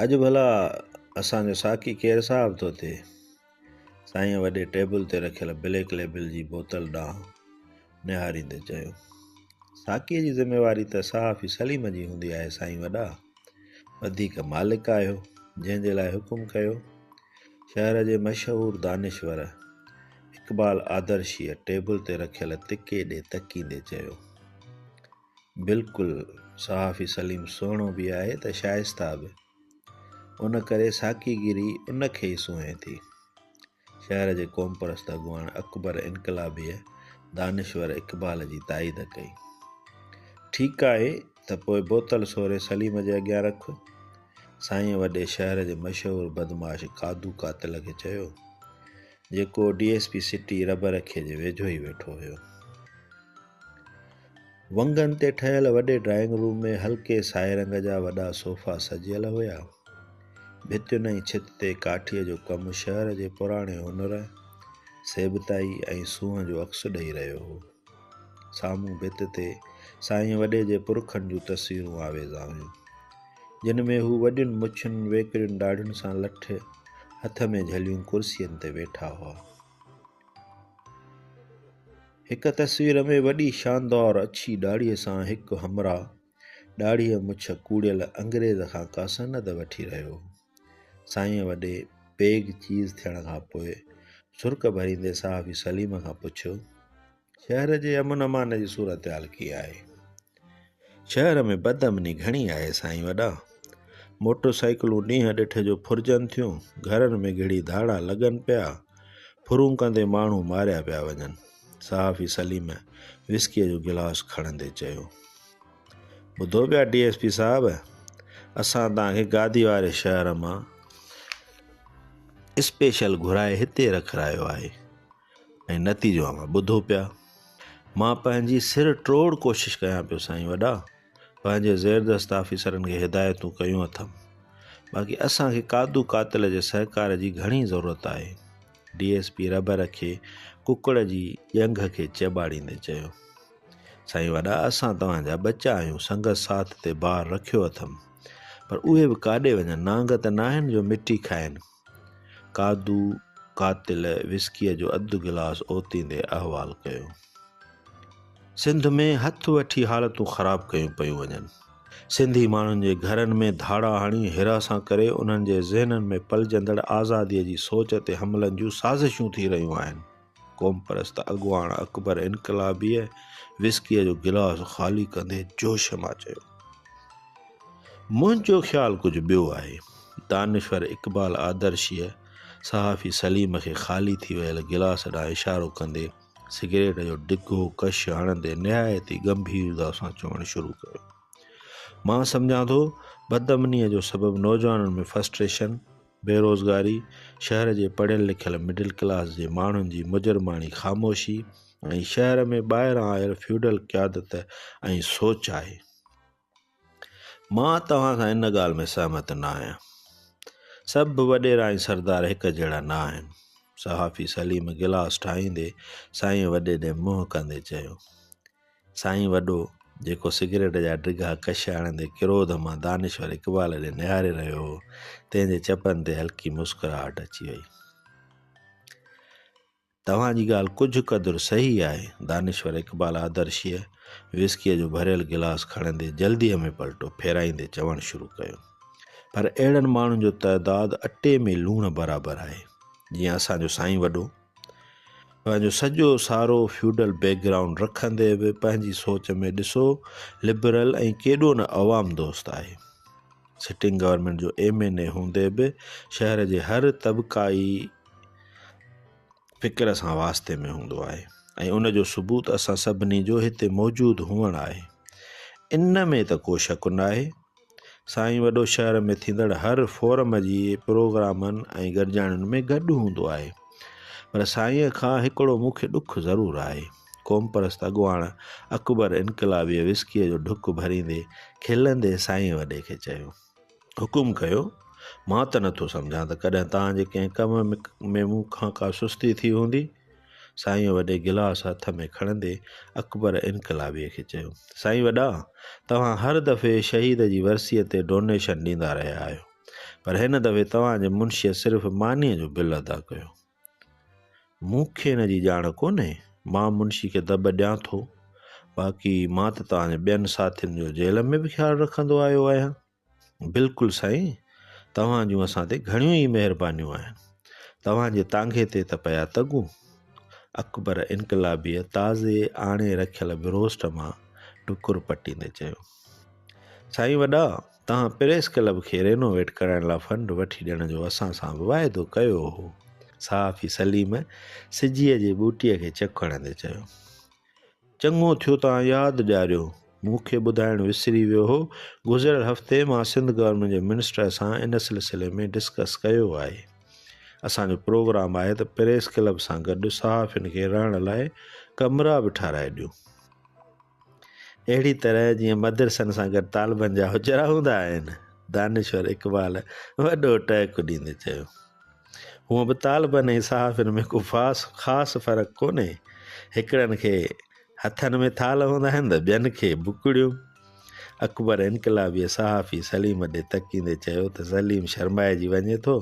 اڄ ڀلا اسان جو ساقي ڪير صاحب ٿو ٿئي سائين وڏي ٽيبل تي رکيل بليڪ ليبل جي بوتل ڏانهن نهاريندي چيو ساقيء جي ذميواري ته صحافي سليم جي هوندي آهي سائين وڏا وڌيڪ مالڪ آهيو جنهن جي لاء حڪم ڪيو شهر جي مشهور دانشور اقبال آدرشيء ٽيبل تي رکيل تڪي ڏي تڪيندي چيو بلڪل صحافي سليم سهڻو به آهي ته شائسته به ان ڪري ساقي گيري ان کي ئي سونهين ٿي شهر جي قوم پرست اڳواڻ اڪبر انقلابيء دانشور اقبال جي تائيد ڪئي ٺيڪ آهي ته پوء بوتل سوري سليم جي اڳيان رک سائين وڏي شهر جي مشهور بدماش قادو قاتل کي چيو جيڪو D S P city Rahbar کي جي ويجهو ئي ويٺو هيو ونگن تي ٺهيل وڏي ڊرائنگ روم ۾ هلڪي سائي رنگ جا وڏا صوفا سجيل هيا. ڀتين ۽ ڇت تي ڪاٺيء جو ڪم شهر جي پراڻي هنر، سيبتائي ۽ سونهن جو عڪس ڏئي رهيو هو. سامهون ڀت تي سائين وڏي جي پرکن جون تصويرون آويزان هيون، جن ۾ هو وڏين مڇن، ويڪرين ڏاڙهين سان لٺ هٿ ۾ جهليون ڪرسين تي ويٺا هئا. هڪ تصوير ۾ وڏي شاندار اڇي ڏاڙهيء سان هڪ همراهه ڏاڙهيء مڇ ڪوڙيل انگريز کان ڪا سند وٺي رهيو هو. سائينء وڏي پيگ چيز ٿيڻ کان پوء سرڪ ڀريندي صحافي سليم کان پڇيو، شهر جي امن امان جي صورتحال ڪيئن آهي؟ شهر ۾ بد امني گهڻي آهي سائين وڏا. موٽر سائيڪلون ڏينهن ڏٺ جو ڦرجن ٿيون، گهرن ۾ گهڙي ڌاڙا لڳن پيا، ڦرون ڪندي ماڻهو ماريا پيا وڃن. صحافي سليم وسڪيء جو گلاس کڻندي چيو. ٻڌو پيا ڊي ايس پي صاحب، اسان توهان کي گادي واري شهر مان اسپيشل گهرائي هتي رکرايو آهي. ۽ نتيجو اوهان ٻڌو پيا. مان پنهنجي سر ٽوڙ ڪوشش ڪيان پيو سائين وڏا، پنهنجي زيردست آفيسرن کي هدايتون ڪيون اٿم، باقي اسان کي قادو قاتل جي سهڪار جي گهڻي ضرورت آهي. ڊي ايس پي رهبر کي ڪڪڙ جي ڄنگهه کي چيٻاڙيندي چيو. سائين وڏا اسان توهان جا ٻچا آهيون سنگت ساٿ تي بار رکيو اٿم، پر اهي به ڪاڏي وڃن نانگ ته ناهن جو مٽي کائن. ڪادو قاتل وسڪيء جو اڌ گلاس اوتيندي احوال ڪيو. سنڌ ۾ هٿ وٺي حالتون خراب ڪيون پيون وڃن. سنڌي ماڻهن جي گهرن ۾ ڌاڙا هڻي حراسان ڪري انهن جي ذهنن ۾ پلجندڙ آزاديء جي سوچ تي حملن جون سازشون ٿي رهيون آهن. قومپرست اڳواڻ اڪبر انقلابيء وسڪيء جو گلاس خالي ڪندي جوش مان چيو، منهنجو خيال ڪجهه ٻيو آهي. دانشور اقبال آدرشيء صحافي سليم کي خالي ٿي ويل گلاس ڏانهن اشارو ڪندي سگريٽ جو ڊگهو ڪش هڻندي نهايت ئي ڳنڀيرتا سان چوڻ شروع ڪيو، مان سمجهان ٿو بدامنيء جو سبب نوجوانن ۾ فرسٽريشن، بيروزگاري، شهر جي پڙهيل لکيل مڊل ڪلاس جي ماڻهن جي مجرماڻي خاموشي ۽ شهر ۾ ٻاهران آيل فيوڊل قيادت ۽ سوچ آهي. مان توهان سان ان ڳالهه ۾ سهمت نه آهيان. سڀ به وڏيرا ۽ سردار هڪ جهڙا نه آهن. صحافي سليم گلاس ٺاهيندي سائينء وڏي ڏي منهن ڪندي چيو. سائين وڏو، جيڪو سگريٽ جا ڊگها ڪش آڻيندي ڪروڌ مان دانشور اقبال ڏي نهاري رهيو هو، تنهن جي چپن تي هلڪي مسڪراهٽ اچي وئي. توهان جي ڳالهه ڪجهه قدر صحيح آهي. دانشور اقبال آدرشيء وسڪيء جو ڀريل گلاس کڻندي جلديء ۾ پلٽو ڦيرائيندي چوڻ شروع ڪيو. پر اهڙن ماڻهن جو تعداد اٽي ۾ لوڻ برابر آهي، جيئن اسان جو سائين وڏو. پنهنجو سڄو سارو فيوڊل بيڪ گرائونڊ رکندي به پنهنجي سوچ ۾ ڏسو لبرل ۽ ڪيڏو نه عوام دوست آهي سٽنگ گورنمنٽ جو ايم اين اي هوندي به شهر جي هر طبقائي فڪر سان واسطي ۾ هوندو آهي ۽ ان جو ثبوت اسان سڀني جو هتي موجود هئڻ آهي ان ۾ ته ڪو شڪ ناهي سائين وڏو شهر ۾ ٿيندڙ هر فورم جي پروگرامن ۽ گڏجاڻين ۾ گڏ هوندو آهي پر سائين کان هڪڙو مون کي ڏک ضرور آهي قومپرست اڳواڻ اڪبر انقلابيء وسڪيء جو ڍڪ ڀريندي کلندي سائين وڏي کي چيو حڪم ڪيو مان ته نٿو سمجهان ته ڪڏهن توهان جي ڪنهن ڪم ۾ مون کان ڪا سستي ٿي هوندي سائينء وڏي گلاس هٿ ۾ کڻندي اڪبر انقلابيء کي چيو، سائين وڏا، توهان هر دفعي شهيد جي ورسيء تي ڊونيشن ڏيندا رهيا آهيو، پر هن دفعي توهان جي منشيء صرف مانيء جو بل ادا ڪيو. مون کي ان جي ڄاڻ ڪونهي، مان منشي کي دٻ ڏيان ٿو، باقي مان ته توهان جي ٻين ساٿين جو جيل ۾ به خيال رکندو آيو آهيان. بلڪل سائين توهان جون اسان تي گهڻيون ئي مهربانيون آهن توهان جي تانگهي تي ته پيا تڳون اڪبر انقلابيء تازي آڻي رکيل بروسٽ مان ٽڪر پٽيندي چيو سائين وڏا توهان پريس ڪلب کي رينوويٽ ڪرائڻ لاء فنڊ وٺي ڏيڻ جو اسان سان به واعدو ڪيو هو صحافي سليم سجيء جي ٻوٽيء کي چڪ هڻندي چيو چڱو ٿيو توهان ياد ڏياريو. مون کي ٻڌائڻ وسري ويو هو. گذريل هفتي مان سنڌ گورنمينٽ جي منسٽر سان ان سلسلي ۾ ڊسڪس ڪيو آهي. اسان جو پروگرام آهي ته پريس ڪلب سان گڏ صحافين کي رهڻ لاء ڪمرا به ٺهرائي ڏيون. اهڙي طرح جيئن مدرسن سان گڏ طالبن جا حجرا هوندا آهن. دانشور اقبال وڏو ٽهڪ ڏيندي چيو. هونئن به طالبن ۽ صحافين ۾ ڪو خاص فرق ڪونهي، هڪڙن کي هٿن ۾ ٿالهه هوندا آهن ته ٻين کي بڪڙيون. اڪبر انقلابيء صحافي سليم ڏي تڪيندي چيو ته سليم شرمائجي وڃي ٿو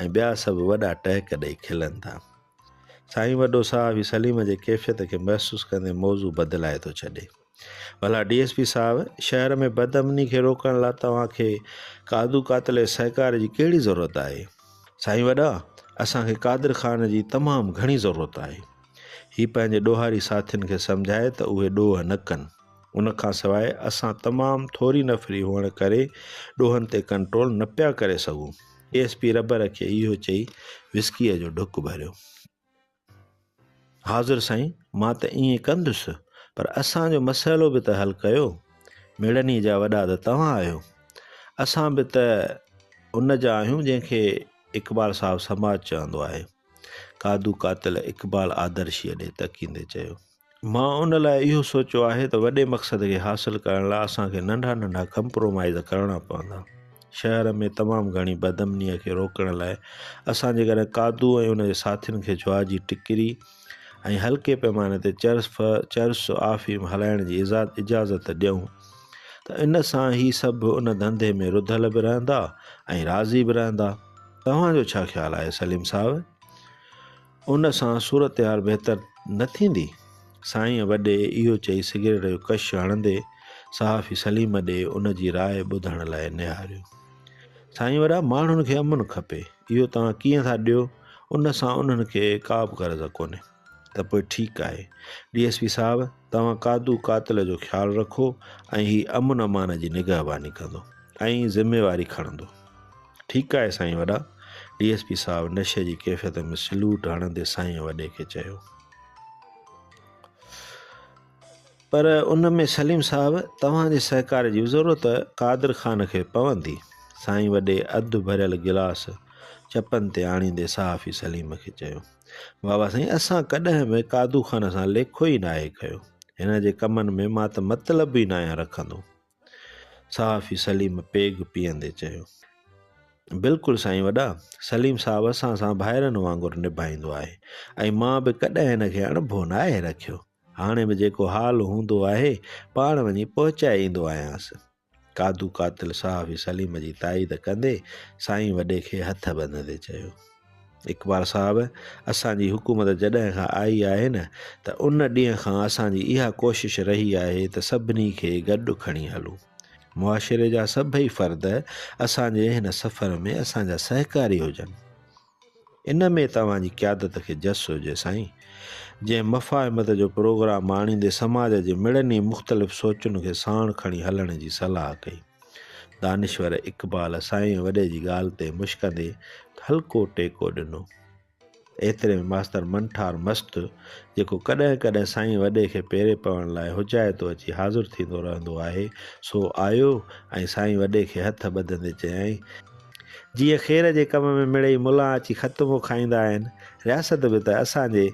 ۽ ٻيا سڀ وڏا ٽهڪ ڏئي کلن ٿا. سائين وڏو صحافي سليم جي ڪيفيت کي محسوس ڪندي موضوع بدلائي ٿو ڇڏي. ڀلا ڊي ايس پي صاحب شهر ۾ بد امني کي روڪڻ لا توهان کي ڪادو قاتل جي سهڪار جي ڪهڙي ضرورت آهي سائين وڏا اسان کي قادر خان جي تمام گهڻي ضرورت آهي هي پنهنجي ڏوهاري ساٿين کي سمجهائي ته اهي ڏوهه نه ڪن ان کان سواء اسان تمام ٿوري نفري هئڻ ڪري ڏوهن تي ڪنٽرول نه پيا ڪري سگهون ڊي ايس پي ربر کي اهو چئي وسڪيء جو ڍڪ ڀريو حاضر سائين مان ته ائين ڪندس پر اسان جو مسئلو به ته حل ڪيو مڙني جا وڏا ته توهان آهيو اسان به ته ان جا آهيون جنهن کي اقبال صاحب سماج چوندو آهي قادو قاتل اقبال آدرشيء ڏي تڪيندي چيو مان ان لاء اهو سوچيو آهي ته وڏي مقصد کي حاصل ڪرڻ لاء اسان کي ننڍا ننڍا ڪمپرومائيز ڪرڻا پوندا. شهر ۾ تمام گهڻي بدامنيء کي روڪڻ لاء اسان جيڪڏهن قادو ۽ ان جي ساٿين کي جوا جي ٽڪري ۽ هلڪي پيماني تي چرس ڦ چرس آفيم هلائڻ جي اجازت ڏيون ته ان سان هي سڀ ان ڌنڌي ۾ رڌل به رهندا ۽ راضي به رهندا. توهان جو ڇا خيال آهي سليم صاحب؟ ان سان صورتحال بهتر نه ٿيندي؟ سائينء وڏي اهو چئي سگريٽ جو ڪش هڻندي صحافي سليم ڏي ان جي راء ٻڌڻ لاء نهاريو. سائين وڏا ماڻهن کي امن کپي، اهو توهان ڪيئن ٿا ڏيو، ان سان انهن کي ڪابه غرض ڪونهي. ته پوء ٺيڪ آهي ڊي ايس پي صاحب توهان ڪادو قاتل جو خيال رکو ۽ هي امن امان جي نگهباني ڪندو ۽ ذميواري کڻندو. ٺيڪ آهي سائين وڏا، ڊي ايس پي صاحب نشي جي ڪيفيت ۾ سلوٽ هڻندي سائين وڏي کي چيو. پر ان ۾ سليم صاحب توهان جي سهڪار جي ضرورت قادر خان کي پوندي. سائين وڏي اڌ ڀريل گلاس چپن تي آڻيندي صحافي سليم کي چيو. بابا سائين اسان ڪڏهن به قادو خان سان ليکو ئي ناهي ڪيو. هن جي ڪمن ۾ مان ته مطلب ئي ناهيان رکندو. صحافي سليم پيگ پيئندي چيو. بلڪل سائين وڏا، سليم صاحب اسان سان ڀائرن وانگر نڀائيندو آهي ۽ مان به ڪڏهن هن کي اڻڀو ناهي رکيو. هاڻي به جيڪو حال هوندو آهي پاڻ وڃي پهچائي ايندو آهيانس. ڪادو قاتل صحافي سليم جي تائيد ڪندي سائين وڏي کي هٿ ٻنڌندي چيو. اقبال صاحب اسان جي حڪومت جڏهن کان آئي آهي نه ته ان ڏينهن کان اسان جي اها ڪوشش رهي آهي ته سڀني کي گڏ کڻي هلون معاشري جا سڀئي فرد اسان جي هن سفر ۾ اسان جا سهڪاري هجن ان ۾ توهان جي قيادت کي جس هجي سائين جنهن مفاهمت جو پروگرام آڻيندي سماج جي مڙني مختلف سوچن کي ساڻ کڻي هلڻ جي صلاح ڪئي دانشور اقبال سائين وڏي جي ڳالهه تي مشڪندي هلڪو ٽيڪو ڏنو. ايتري ۾ ماستر منٺار مست، جيڪو ڪڏهن ڪڏهن سائين وڏي کي پيري پوڻ لاء حجائتو اچي حاضر ٿيندو رهندو آهي، سو آيو ۽ سائين وڏي کي هٿ ٻڌندي چيائين، جيء خير جي ڪم ۾ مڙئي ملان اچي ختمو کائيندا آهن، رياست به ته اسان جي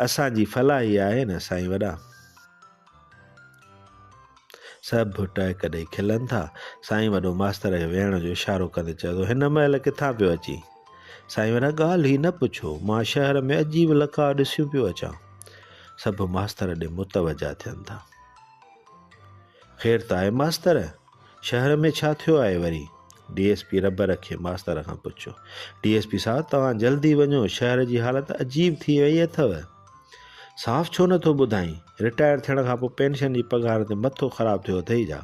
اسان جي فلاحي آهي نه سائين وڏا! سڀ ڀٽائي ڪڏهن کلن ٿا. سائين وڏو ماستر کي ويهڻ جو اشارو ڪندي چيو ته هن مهل ڪٿان پيو اچين؟ سائين وڏا ڳالهه ئي نه پڇو، مان شهر ۾ عجيب لقاء ڏسيون پيو اچان. سڀ ماستر ڏي متوجهه ٿين ٿا. خير ته آهي ماستر؟ شهر ۾ ڇا ٿيو آهي وري؟ ڊي ايس پي رب رکي ماستر کان پڇيو. ڊي ايس پي صاحب توهان جلدي وڃو شهر جي حالت عجيب ٿي وئي اٿو. صاف ڇو نه ٿو ٻڌائين؟ رٽائر ٿيڻ کان پوء پينشن جي پگهار تي مٿو خراب ٿيو اٿئي ڇا؟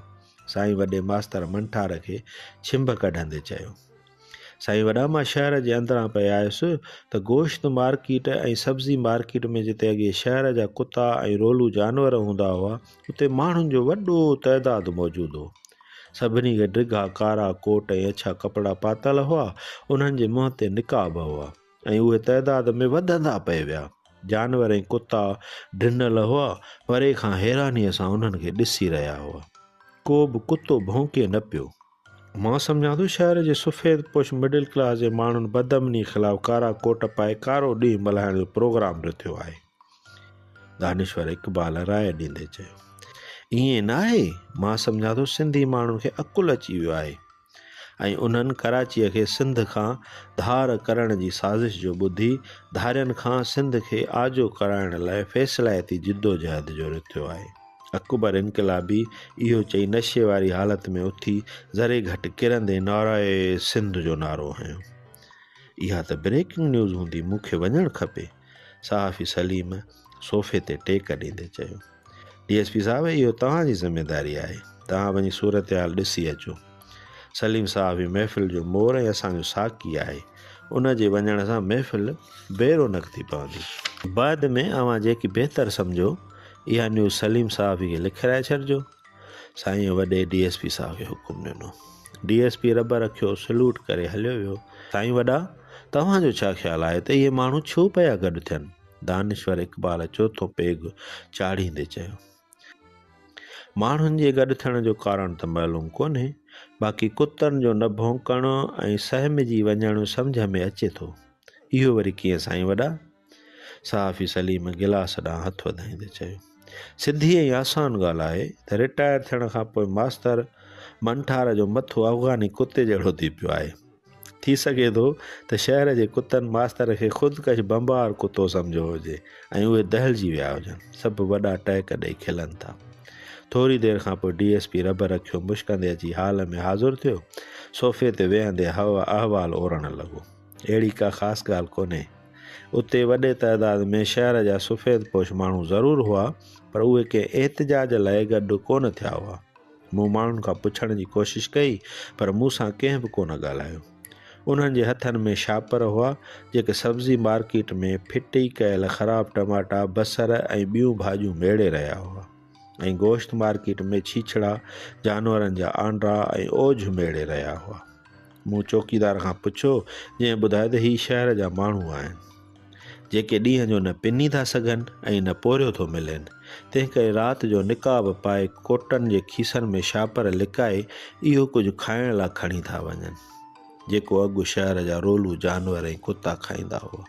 سائين وڏي ماستر منٺار کي ڇنڀ ڪڍندي چيو. سائين وڏا مان شهر جي اندران پئي آيس ته گوشت مارڪيٽ ۽ سبزي مارڪيٽ ۾ جتي اڳي شهر جا ڪتا ۽ رولو جانور هوندا هئا اتي ماڻهن جو وڏو تعداد موجود هو سڀني کي ڊگها ڪارا ڪوٽ ۽ اڇا ڪپڙا پاتل هئا انهن جي منهن تي نقاب هئا ۽ اهي تعداد ۾ وڌندا پئي ويا جانور ۽ ڪتا ڊنل هئا پري کان حيرانيء سان انهن کي ڏسي رهيا هئا ڪو به ڪتو ڀونڪي نه پيو مان سمجهان ٿو شهر جي سفيد پوش مڊل ڪلاس جي ماڻهن بدامني خلاف ڪارا ڪوٽ پائي ڪارو ڏينهن ملهائڻ جو پروگرام رٿيو آهي دانشور اقبال راء ڏيندي چيو ائين نه آهي مان سمجهان ٿو سنڌي ماڻهن کي عقل اچي ويو آهي ۽ انهن ڪراچيء کي سنڌ کان ڌار ڪرڻ جي سازش جو ٻڌي ڌارين کان سنڌ کي آجو ڪرائڻ لاء فيصلائتي جدوجهد جو رٿيو آهي اڪبر انقلابي اهو چئي نشي واري حالت ۾ اٿي ذري گهٽ ڪرندي نعرائي سنڌ جو نعرو هنيو اها ته بريڪنگ نيوز هوندي مون کي وڃڻ کپي صحافي سليم صوفي تي ٽيڪ ڏيندي چيو ڊي ايس پي صاحب اهو توهان جي ذميواري آهي توهان وڃي صورتحال ڏسي اچو سليم صاحب هي محفل جو مور ۽ اسان جو ساقي آهي. ان جي وڃڻ سان محفل بي رونق ٿي پوندي. بعد ۾ اوهان جيڪي بهتر سمجهو اها نيوز سليم صاحب کي لکرائي ڇڏجو. سائينء وڏي ڊي ايس پي صاحب کي حڪم ڏنو. ڊي ايس پي رب رکيو سلوٽ ڪري هليو ويو. سائين وڏا توهان جو ڇا خيال آهي ته اهي ماڻهو ڇو پيا گڏ ٿين؟ دانشور اقبال چوٿون پيگ چاڙهيندي چيو. ماڻهن جي گڏ ٿيڻ جو ڪارڻ ته معلوم ڪونهي، باقي ڪتن جو نه ڀونڪڻ ۽ سهمجي وڃڻ سمجهه ۾ اچي ٿو. اهو وري ڪيئن سائين وڏا؟ صحافي سليم گلاس ڏانهن هٿ وڌائيندي چيو. سڌي ۽ آسان ڳالهه آهي ته رٽائر ٿيڻ کان پوء ماستر منٺار جو مٿو افغاني ڪتي جهڙو ٿي پيو آهي. ٿي سگهي ٿو ته شهر جي ڪتن ماستر کي خودڪش بمبار ڪتو سمجهيو هجي ۽ اهي دهلجي ويا هجن. سڀ وڏا ٽهڪ ڏئي کلن ٿا. ٿوري دير کان پوء ڊي ايس پي رڀ رکيو مشڪندي اچي هال ۾ حاضر ٿيو. صوفي تي ويهندي احوال اورڻ لڳو. اهڙي ڪا خاص ڳالهه ڪونهي. اتي وڏي تعداد ۾ شهر جا سفيد پوش ماڻهو ضرور هئا پر اهي ڪنهن احتجاج لاء گڏ ڪونه ٿيا هئا. مون ماڻهن کان پڇڻ جي ڪوشش ڪئي پر مون سان ڪنهن به ڪونه ڳالهايو. انهن جي هٿن ۾ شاپر هئا جيڪي سبزي مارڪيٽ ۾ ڦٽي ڪيل خراب ٽماٽا، بصر ۽ ٻيون ڀاڄيون ميڙي رهيا هئا ۽ گوشت مارڪيٽ ۾ ڇيڇڙا، جانورن جا آنڊا ۽ اوجهه ميڙي رهيا هئا. مون چوڪيدار کان پڇيو جنهن ٻڌايو ته هي شهر جا ماڻهو آهن. جيڪي ڏينهن جو نه پني ٿا سگهن ۽ نه پورهيو ٿو ملين، تنهنڪري رات جو نقاب پائي ڪوٽن جي کيسن ۾ شاپر لڪائي اهو ڪجهه کائڻ لا کڻي ٿا وڃن، جيڪو اڳ شهر جا رولو جانور ۽ ڪتا کائيندا هئا.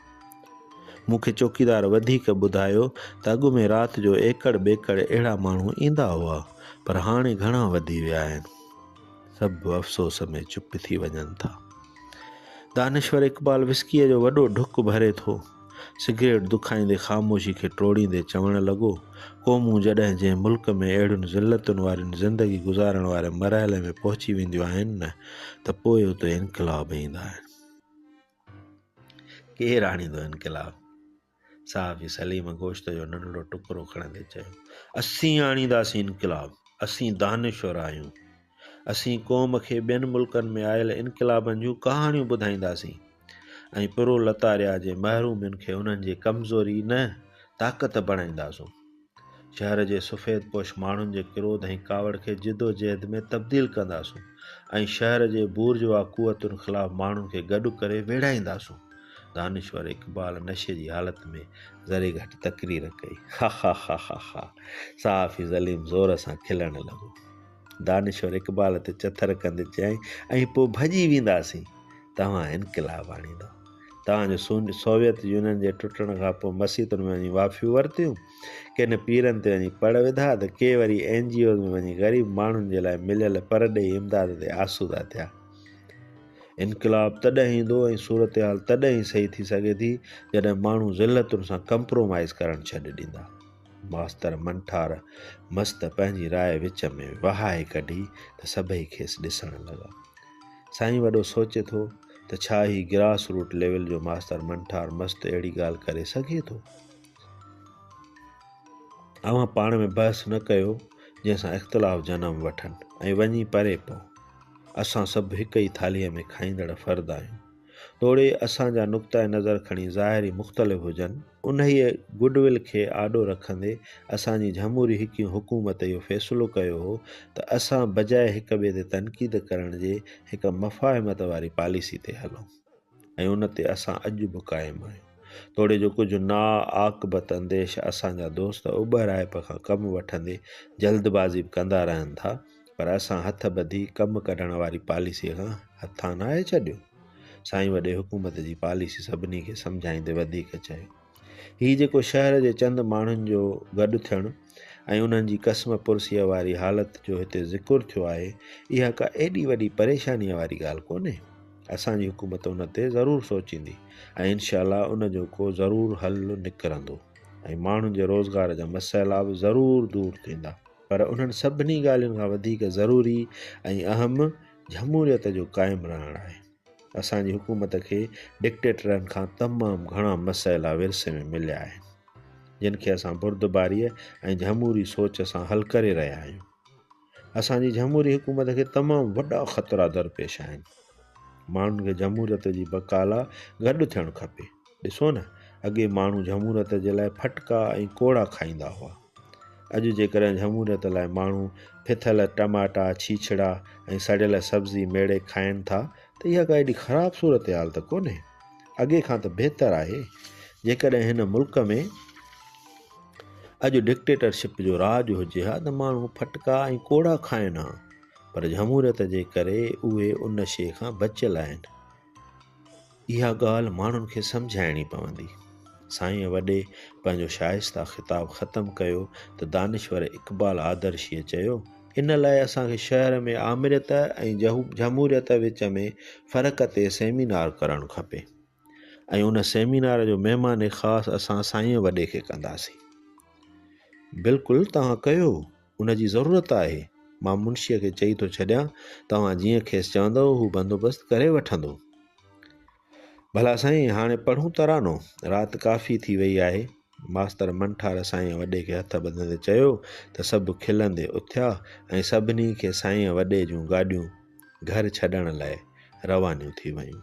مون کي چوڪيدار وڌيڪ ٻڌايو ته اڳ ۾ رات جو ايڪڙ ٻيڪڙ اهڙا ماڻهو ايندا هئا، پر هاڻي گهڻا وڌي ويا آهن. سڀ افسوس ۾ چپ ٿي وڃن ٿا. دانشور اقبال وسڪيء جو وڏو ڍڪ ڀري ٿو. سگريٽ دکائيندي خاموشي کي ٽوڙيندي چوڻ لڳو، قومون جڏهن جنهن ملڪ ۾ اهڙين ذلتن وارين زندگي گذارڻ واري مرحلي ۾ پهچي وينديون آهن نه ته پوء اتي انقلاب ايندا آهن. ڪير آڻيندو انقلاب؟ صحافي سليم گوشت جو ننڍڙو ٽڪرو کڻندي چيو، اسين آڻينداسين انقلاب، اسين دانشور آهيون، اسين قوم کي ٻين ملڪن ۾ آيل انقلابن جون ڪهاڻيون ٻڌائينداسين ۽ پرولتاريا جي محرومين کي انهن جي ڪمزوري نه طاقت بڻائينداسون. شهر جي سفيد پوش ماڻهن جي ڪروڌ ۽ ڪاوڙ کي جدوجهد ۾ تبديل ڪنداسون ۽ شهر جي بورجوا قوتن خلاف ماڻهن کي گڏ ڪري ويڙهائينداسون. دانشور اقبال نشي جي حالت ۾ ذري گهٽ تقرير ڪئي. خاخاخاخاخا صحافي ظليم زور سان کلڻ لڳو. دانشور اقبال تي چٿر ڪندي چيائين، ۽ پوء ڀڄي وينداسين، توهان انقلاب آڻيندا. توهان جو سونج سوويت يونين جي ٽٽڻ کان پوء مسيتن ۾ وڃي وافيون ورتيون، ڪن پيرن تي وڃي پڙ وڌا ته ڪي وري اين جي اوز ۾ وڃي غريب ماڻهن جي لاء مليل پرڏيهي امداد تي آسودا ٿيا. انقلاب تڏهن ايندو ۽ صورتحال تڏهن ئي صحيح ٿي سگهي ٿي، جڏهن ماڻهو ذلتن سان ڪمپرومائيز ڪرڻ ڇڏي ڏيندا. ماستر منٺار مست پنهنجي راء وچ ۾ وهائي ڪڍي ته سڀئي کيس ڏسڻ لڳا. سائين وڏو سوچي ٿو ته ڇا هي گراس روٽ ليول جو ماستر منٺار مست اهڙي ڳالهه ڪري سگهي ٿو؟ اوهان پاڻ ۾ بحث نه ڪيو جنهن سان اختلاف جنم وٺن ۽ وڃي پري پئو. اسان سڀ هڪ ئي ٿالهيء ۾ کائيندڙ فرد آهيون. توڙي اسان جا نقطه نظر کڻي ظاهري مختلف هجن، انهيء گڊ ول کي آڏو رکندي اسان جي جهموري حڪيون حڪومت اهو فيصلو ڪيو هو ته اسان بجاء هڪ ٻئي تي تنقيد ڪرڻ جي هڪ مفاهمت واري پاليسي تي هلون ۽ ان تي اسان اڄ به قائم آهيون توڙي جو ڪجهه ناعاقبت انديش اسان جا دوست اٻهرائپ کان ڪم وٺندي جلدبازي به ڪندا رهن ٿا پر اسان هٿ ٻڌي ڪم ڪڍڻ واري پاليسيء کان هٿان ناهي ڇڏيو. سائين وڏي حڪومت جي پاليسي سڀني کي سمجهائيندي وڌيڪ چيو. هي جيڪو شهر جي چند ماڻهن جو گڏ ٿيڻ ۽ انهن جي قسم پرسيء واري حالت جو هتي ذڪر ٿيو آهي، اها ڪا ايڏي وڏي پريشانيء واري ڳالهه ڪونهي. اسان جي حڪومت ان تي ضرور سوچيندي ۽ انشاء الله ان جو ڪو ضرور حل نڪرندو ۽ ماڻهن جي روزگار جا مسئلا به ضرور دور ٿيندا. پر انهن سڀني ڳالهين کان وڌيڪ ضروري ۽ اهم جھموريت جو قائم رهڻ آهي. اسان جي حڪومت کي ڊڪٽيٽرن کان تمام گھڻا مسئلا ورثي ۾ مليا آهن، جن کي اسان بردباريء ۽ جھموري سوچ سان حل ڪري رهيا آهيون. اسان جي جھموري حڪومت کي تمام وڏا خطرا درپيش آهن. ماڻهن کي جھموريت جي بقا لا گڏ ٿيڻ کپي. ڏسو نه اڳي ماڻهو جهموريت جي لاء ڦٽڪا ۽ ڪوڙا کائيندا هئا. اڄ جيڪڏهن جهموريت لاء ماڻهو ڦٿل ٽماٽا، ڇيڇڙا ۽ سڙيل سبزي ميڙي کائين ٿا ته اها ڪا ايڏي خراب صورتحال ته ڪونهي. اڳي کان ته بهتر آهي. جيڪڏهن هن ملڪ ۾ اڄ ڊڪٽيٽرشپ جو راڄ هجي ها ته ماڻهو ڦٽڪا ۽ ڪوڙا کائين ها پر جهموريت جي ڪري اهي ان شيء کان بچيل آهن. اها ڳالهه ماڻهن کي سمجهائڻي پوندي. سائينء وڏي پنهنجو شائسته خطاب ختم ڪيو ته دانشور اقبال آدرشيء چيو، ان لاء اسان کي شهر ۾ آمريت ۽ جهموريت وچ ۾ فرق تي سيمينار ڪرڻ کپي ۽ ان سيمينار جو مهمان خاص اسان سائينء وڏي کي ڪنداسين. بلڪل توهان ڪيو. ان جي ضرورت آهي. مان منشيء کي چئي ٿو ڇڏيان، توهان جيئن کيس چوندؤ، هو بندوبست ڪري وٺندو. ڀلا سائين، هاڻي پڙهون ترانو. رات ڪافي ٿي ويئي آهي. ماستر منٺار سائينء وڏي کي هٿ ٻڌندي چيو ته سڀ کلندي اٿيا ۽ سڀني کي سائينء وڏي جون گاڏيون گهر ڇڏڻ لاء روانيون ٿي ويون.